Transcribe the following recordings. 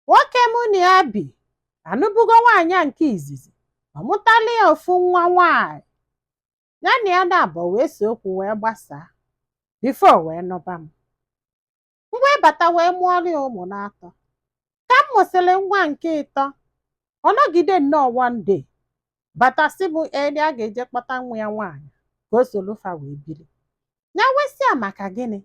nwoke mụ na ya bi anụbugo nwaanyị nke izizi ọ mụtala ya ofu nwa nwaanyị ya na ya naabọ wee see okwu wee gbasaa before wee nụba m m wee bata wee mụọrọ ya ụmụ n'atọ ka m mụsịrị nwa nke ịtọ ọ nọgide nnọọ one day bata sị mụ ee na ya ga-eje kpọta nwa ya nwaanyị ka o solu fa wee biri ya wee sị ya maka gịnị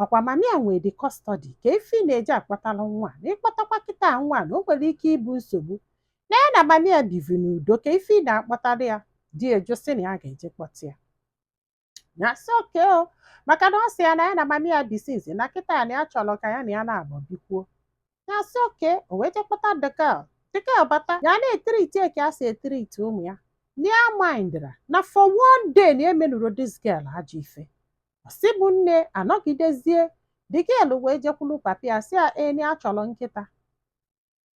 ọkwa mama ya nwe the custody kee ife ị na-eje akpọtara nwa na ị kpọtakwa kịta nwa na o nwere ike ịbụ nsogbu na ya na mama ya bivi n'udo kee ife ị na-akpọtara ya di ya jụ sị na ya ga-eje kpọta ya ya sị okay o maka na ọ sị ya na ya na mama ya bi since na kịtaa na ya chọrọ ka ya na ya naabọ bikwuo ya sị okay o wee jee kpọta the girl the girl bata ya na-etreat ya ka e si etreat ụmụ ya ya mindrọ na for one day na ya emenurọ this girl ajọ ife ọ sị mụ nne a nọgidezie the girl wee jekwulu papa ya sị ya ee na ya chọrọ nkịta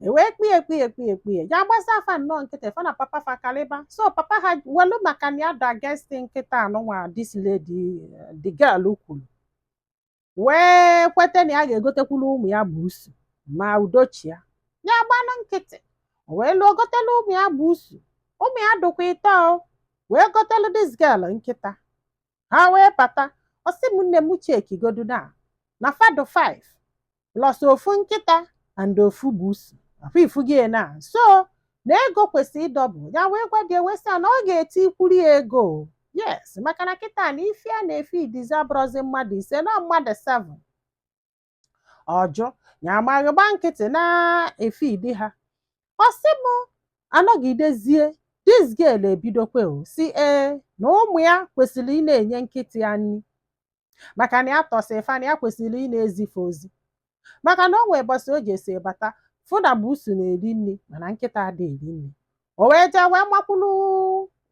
e wee kpie ekpie ekpie ekpie ya gbasịa fa nnọọ nkịtị fa na papa fa kalịba so papa ha welu maka na ya dị against nkịta anụnwa this lady eh, the girl kwuru wee kweta na ya ga-egotekwuru ụmụ ya busu ma udo chịa ya gbanụ nkịtị o wee luo o gotelu ụmụ ya busu ụmụ ya dụkwa ịtọ o wee gotelu this girl nkịta ha wee bata ọ sị m nne m checkigodu na na fa dụ 5 plus ofu nkịta and ofu busu afụ ị fụgo ya na so na ego kwesịrị ị double ya wee gwa di ya wee sị ya na ọ ga-etikwuru ya ego o. yes maka na kịta na ife a na-efeedizi abụrọzi mmadụ ise na ọọ mmadụ 7 ọ jụ ya amaghị gba nkịtị na-efeed ha ọ sị m a nọgidezie this girl ebidokwa sị ee na ụmụ ya kwesịrị ị na-enye nkịta ya nri maka na ya tọsị fa na ya kwesịrị ị na-ezi fa ozi maka na o nwee ụbọsị o jesị bata fụ na busu na-eri nri mana nkịta ada eri nri o wee jee wee makwuru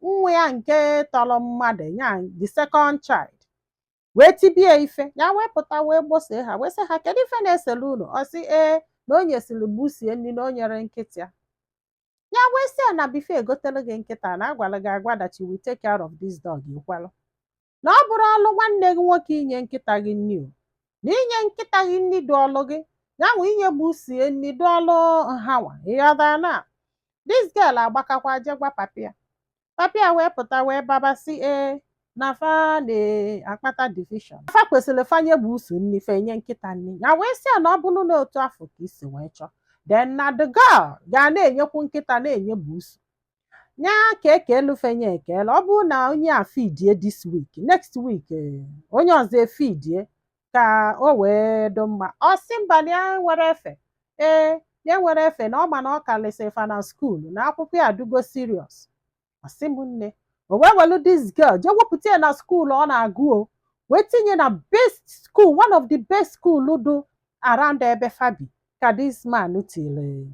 nwa ya nke tọrọ mmadụ ya the second child wee tibe ya ife ya wee pụta wee gbosịa ha wee sị ha kedu ife na-esele unu ọ sị ee na o nyesiri busu ya nri na o nyerọ nkịta ya ya wee sị ya na before e gotere gị nkịta na a gwara gị agwa that you will take care of this dog i kwelu na ọ bụrọ ọlụ nwanne gị nwoke inye nkịta gị nri o na inye nkịta gị nri dị ọlụ gị ya nwe inye busu ya nri dị ọlụ ha nwa ị ghọtara na this girl agbakakwa je gwa papa ya papa ya wee pụta wee baba sị ee na fa na-akpata division fa kwesịrị fa nye busu nri fa enye nkịta nri ya wee sị ya na ọ bụrụ na otu afụ ka i si wee chọọ then na the girl ga na-enyekwu nkịta na-enye busu nya ka e kelu fa nya eke na ọ bụrụ na onye a feedie this week next week eh, onye ọzọ efeedie ka o wee dị mma ọ sị mba na ya nwere efe ee ya nwere efe na ọ ma na ọ kalịsị fa na skuul na akwụkwọ ya adịgo serious ọ sị m nne o wee welu this girl jee wepụta ya na skuul ọ na-agụ o wee tinye na best school one of the best school dụ around ebe fa bi ka this man tiri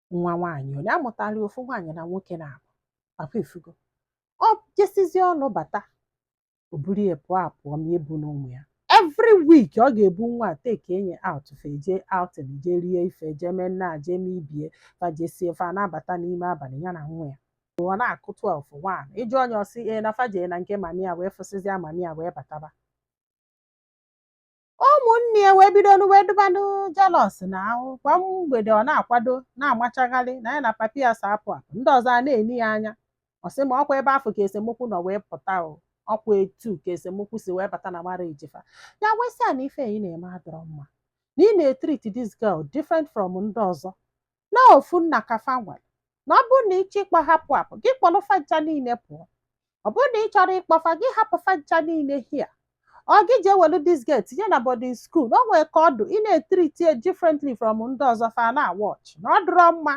nwa nwaanyị onye amụtara ofu nwaanyị na nwoke na-abụ papa efugo ọ jesizi ọlụ bata o buru ya pụọ apụ ọ ma ebu na ụmụ ya every week ọ ga-ebu nwa a take nya out fa jee outing jee rie ife jee mee nna jee mee ibie fa jesie fa na-abata n'ime abalị ya na nwa ya ọ na-akụ 12 1 ị jụọ nya ọ sị ee na fa jee na nke mami ya wee fụsịzịa mami ya wee bataba ụmụnne ya wee bido wee dụbanụ jealous now kwa mgbede ọ na-akwado na-amachagharị na ya na papi ya so apụ apụ ndị ọzọ a na-ene ya anya ọ sị ma ọkwa ebe afụ ka esemokwu nọ wee pụta o ọkwa etu ka esemokwu si wee bata na marriage fa ya wee sị ya na ife ị na-eme adụrọ mma na ị na-etreat this girl different from ndị ọzọ na ofu nna ka fa nwere na ọ bụrụ na ị chọọ ịkpọ ha apụ apụ gị kpọrọ fa ncha niile pụọ ọ bụrụ na ị chọrọ ịkpọ fa gị hapụ fa ncha niile here ọ gị jee welu this girl tinye na boarding school o nwere ka ọ dụ ị na-etreat ya differently from ndị ọzọ fa na-watch na ọ dụrọ mma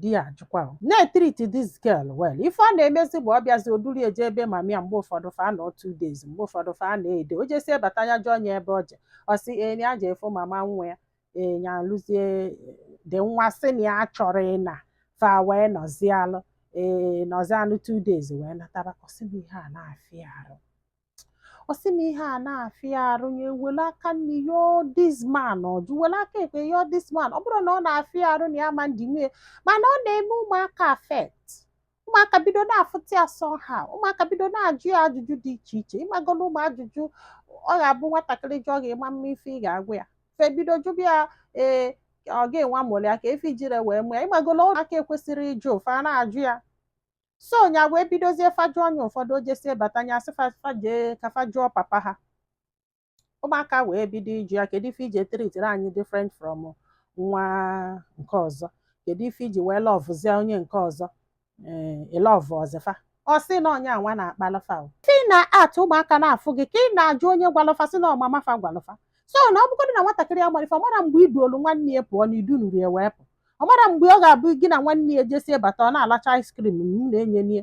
di ya ajụkwa o na-etreat this girl well ife ọ na-emezi bụ ọ bịazi o duru ya je ebe mami ya mgbe ụfọdụ fa nọ two days mgbe ụfọdụ fa nọ a day o jesie bata ya jụọ ya ebe ọ je ọ sị ee ya je ịfụ mama nwa ya ee ya eluzie there nwa sị na ya achọrọ ịna fa wee nọzialụ ee nọzialụ two days wee nataba ọ sị m ihe a na-afịa arụ ọ sị m ihe a na-afịa arụ ya ewele aka nni yọọ this man ọ jụ wele aka ekpe yọọ this man ọ bụrụ na ọ na-afịa arụ na ya ma ndị nwunye mana ọ na-eme ụmụaka affect ụmụaka bido na-afụta ya somehow ụmụaka bido na-ajụ ya ajụjụ dị iche iche ị mago na ụmụ ajụjụ ọ ga-abụ nwatakịrị jụọ gị ị ma ama ife ị ga-agwa ya fa ebido jụba ya ee ọ gị nwa mụlụ ya ka ife i jiri wee mụ ya ị magola ụmụaka ekwesịrọ ịjụ fa na-ajụ ya so nya wee bidozie fa jụọ nya ụfọdụ o jesie bata nya sị fa- fa jee ka fa jụọ papa ha ụmụaka wee bido ịjụ ya kedu ife i ji etritiri anyị different from nwa nke ọzọ kedu ife i ji wee lọvụzie onye nke ọzọ ee ị lọvụrọzị fa ọ sị na ọ nya nwa na-akpalụ fa o ka ị na-act ụmụaka na-afụ gị ka ị na-ajụ onye gwalụ fa sị na ọ mama fa gwalụ fa so na ọ bụgodị na nwatakịrị amarọ ife ọ mara mgbe i duulu nwanne ya pụọ na i dunụrọ ya wee pụ ọ mara mgbe ọ ga-abụ gị na nwanne ya jesie bata ọ na-alacha ice cream m na-enye nie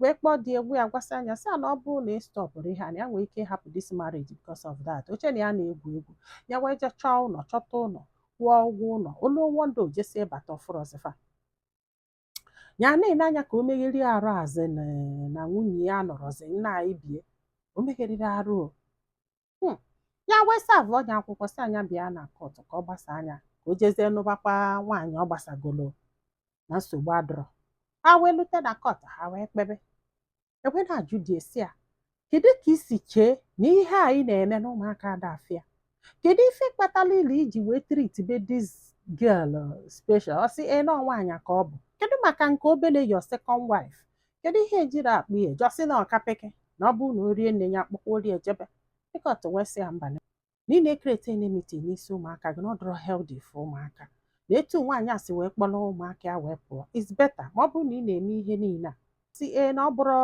wee kpọọ di ya gwa ya gwasịa nya sị ya na ọ bụrụ na ị stọpụrọ ihe a na ya nwere ike ịhapụ dis marriage because of that o che na ya na-egwu egwu ya wee je chọọ ụnọ chọta ụnọ kwụọ ụgwọ ụnọ o lu one day o jesi bata ọ fụrọzi fa ya na-ene anya ka o meghere arụ azị na nwunye ya anọrọzi nna anyị bie o megheriri arụ Hmm. ya wee savụọ nya akwụkwọ sị nya bịa na kọtụ ka ọ gbasaa nya ka o jezie nụbakwa nwaanyị ọ gbasagolo na nsogbu adịrọ ha wee lute na kọtụ ha wee kpebe e wee na-ajụ di e sị ya kedu ka i si chee na ihe a ị na-eme na ụmụaka a dị fair kedu ife kpatara ile i ji wee tritibe this girl special ọ sị ee na nwaanyị ka ọ bụ kedu maka nke obele your second wife kedu ihe ejiri akpụ ya je ọ sị na ọ ka peke na ọ bụrụ na o rie nne ya akpọkọrọ ejebe the kọtụ wee sị ya mba na ị na-ekrieti enmity n'isi ụmụaka gị na ọ dịrọ healthy for ụmụaka na etu nwaanyị a si wee kpọrọ ụmụaka ya wee pụọ is better ma ọ bụrụ na ị na-eme ihe niile a si ee na ọ bụrụ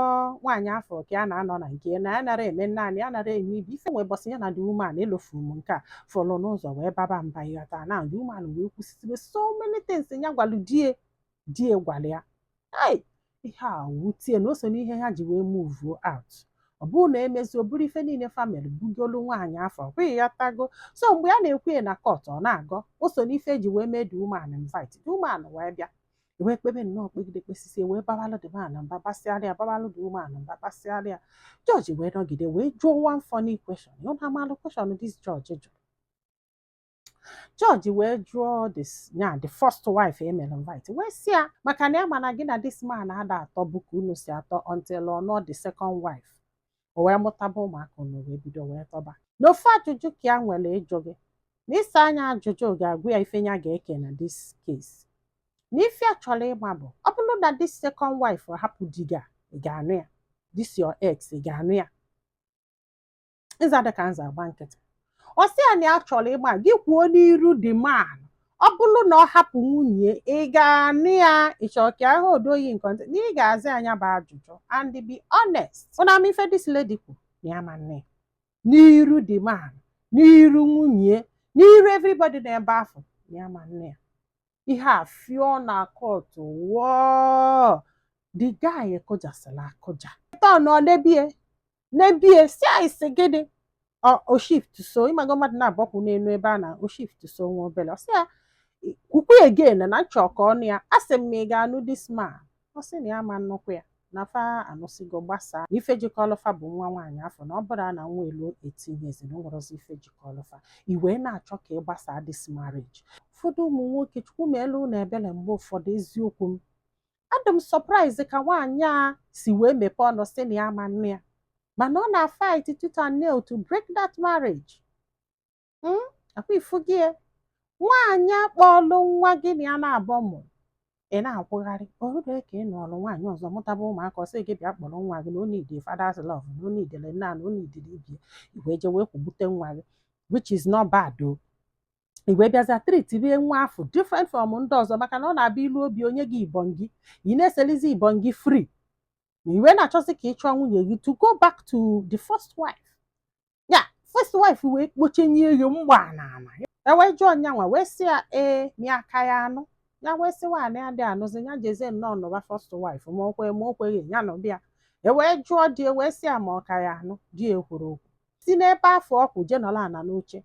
nwaanyị afụ ka a na-anọ na nke na ya nara eme naanị ya nara eme ibe ife wee bọsị ya na the woman elofu m nke a fọrọ n'ụzọ wee baba mba ịghọta na the woman wee kwusisibe so many things ya gwalụ di e di e gwara ya ei ihe a wutie na o so n'ihe ha ji wee move out ọ bụrụ na emezi o buru ife niile family bugolu nwaanyị afụ ọ bụghị ya tago so mgbe a na-ekwu ya na kọt ọ na-agọ o so n'ife e ji wee mee the woman invite the woman wee bịa wee kpebe nnọọ kpegide kpesisie wee babalụ the man mba basịara ya babalụ the woman mba basịara ya jọji wee nọgide wee jụọ one funny question ụnụ amalụ question this jọji jụrụ jọji wee jụọ this ya the first wife e mere invite wee sị ya maka na ya ma na gị na this man ada atọbu ka unu si atọ until ọ nụọ the second wife o wee mụtaba ụmụaka unu wee bido wee tọba na ofu ajụjụ ka ya nwere ịjụ gị na ịsa nya ajụjụ ga-agwa ya ife ya ga-eke na this case na ife ya chọrọ ịma bụ ọ bụrụ na this second wife hapụ di gị a ị ga-anụ ya this your ex ị ga-anụ ya ịza dị ka nza agba nkịtị ọ sị ya na ya chọrọ ịma gị kwuo n'iru the man ọ bụrụ na ọ hapụ nwunye ị ga-anụ ya ịchọ ka ahụ odoyi nke ntị na ị ga-aza nya bụ ajụjụ and be honest ụnụ ma ife this lady kwu na ya ama-anụ ya n'iru the man n'iru nwunye n'iru everybody n'ebe afụ na ya ama-anụ ya ihe a fịọ na kọtụ wọọ the guy akụjasịla akụja tọn ọ nebie nebie sị ya ị sị gịnị o shift so ịmago mmadụ na-agbakwu n'elu ebe a na o shift so nwa obere ọ sị ya kwukwa again na nchọ ka ọ nụ ya a sị m ma ị ga-anụ this man ọ sị na ya ama-anụkwa ya na fa anụsigo gbasaa ife jikọlụ fa bụ nwa nwaanyị afụ na ọ bụrụ na nwa eluo eighteen years na o nwerọzi ife jikọlụ fa i wee na-achọ ka ị gbasaa this marriage ụfọdụ ụmụ nwoke Chukwu melu ụnụ ebele mgbe ụfọdụ eziokwu m adị m surprise ka nwaanyị a si wee mepee ọnụ sị na ya ma nne ya mana ọ na-fight tooth and nail to break that marriage Mm, akwa ị fugo ya. nwaanyị akpọọlụ nwa gị na ya naabọ mụrụ ị na-akwụgharị o rue ka ị nụọlụ nwaanyị ọzọ mụtaba ụmụaka ọ sị gị bịa kpọrọ nwa gị na o need father's love na o needili nna na o needili ibie i wee jee wee kwugbute nwa gị which is not bad o i wee bịazịa treatie nwa afụ different from ndị ọzọ maka na ọ na-abịa ilu obi o nye gị ibọn gị ị na-eselizi ibọn gị free na i wee na-achọzi ka ị chụọ nwunye gị to go back to the first wife ya first wife wee kpochenye ego mgba na ama e wee jụọ nyanwa wee sị ya ee ma ị ka ya-anụ ya wee sị nwaanyị adị anụzi ya jezie nụọ nụba first wife ma o kwe ma o kweghị ya nụba ya e wee jụọ di e wee sị ya ma ọ ka ya-anụ di ekwurọ okwu si n'ebe afụ ọ kwụ jee nọlụ ana n'oche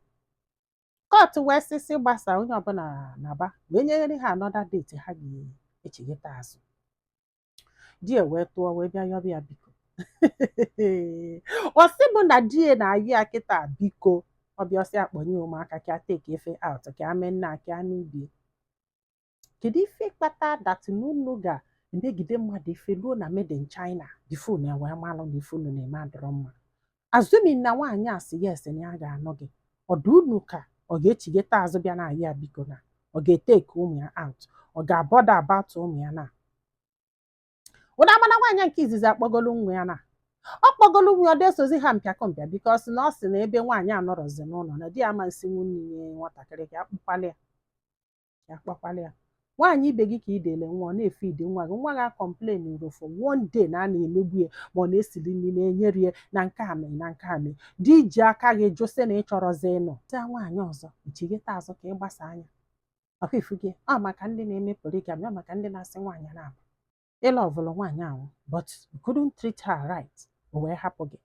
court wee sịsị gbasa onye ọbụla naba wee nyere ha another date ha ga-echighata azụ di ya wee tụọ wee bịa yọba ya biko ọ sị mụ na di ya na-ayọ ya kịta biko ọ bịa ọ sị a kpọnye ụmụaka ka a take fa out ka a mee nna ka a mee ibie kedu ife kpata that na unu ga-emegide mmadụ ife ruo na made in China before unu ewee malụ na ife unu na-eme adọrọ mma assuming na nwaanyị a sị yes na ya ga-anụ gị ọ dị unu ka ọ ga-echighata azụ bịa na-ayọ ya biko na ọ ga-etake ụmụ ya out ọ ga-abother about ụmụ ya na ụda amana nwaanyị nke izizi akpọgolu nwa ya na ọ kpọgolu nwa ọ dị esozi ha mpịakọ mpịa because na ọ sị na ebe nwaanyị anọrọzi n'ụlọ na di ya ama nsi nwunye nwatakịrị ka a kpọkwalụ ya ka a kpọkwalụ ya nwaanyị ibe gị ka ị dele nwa ọ na-efeed nwa gị nwa gị acomplainụrọ for one day na a na-emegbu ya ma ọ na-esili nri na-enyere ya na nke a mee na nke a mee di i ji aka gị jụ sị na ị chọrọzi ị nụsịa nwaanyị ọzọ i chighata azụ ka ị gbasa anya ọ kwa ị fugo ọ maka ndị na-eme polygamy ọ maka ndị na-asị nwaanyị na-abụ ị lovelụ nwaanyị ahụ but you couldn't treat her right o wee hapụ gị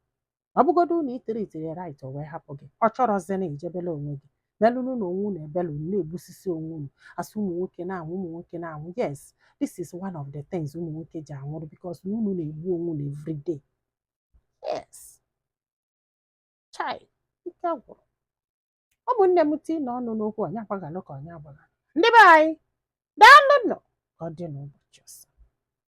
ọ bụgodu na ị treatiri ya right o wee hapụ gị ọ chọrọzi na-eje belụ onwe gị belụnụ na onwe unu ebele unu na-egbusisi onwe unu a sị ụmụ nwoke na-anwụ ụmụ nwoke na-anwụ yes this is one of the things ụmụ nwoke ji anwụrụ because na unu na-egbu onwe unu every day yes chai ike gwụrụ ụmụnne m tiinụ ọnụ n'okwu onye agbaghalụ ka onye agbaghalụ ndị be anyị daalụnụ ka ọ dị n'ụbọchị ọzọ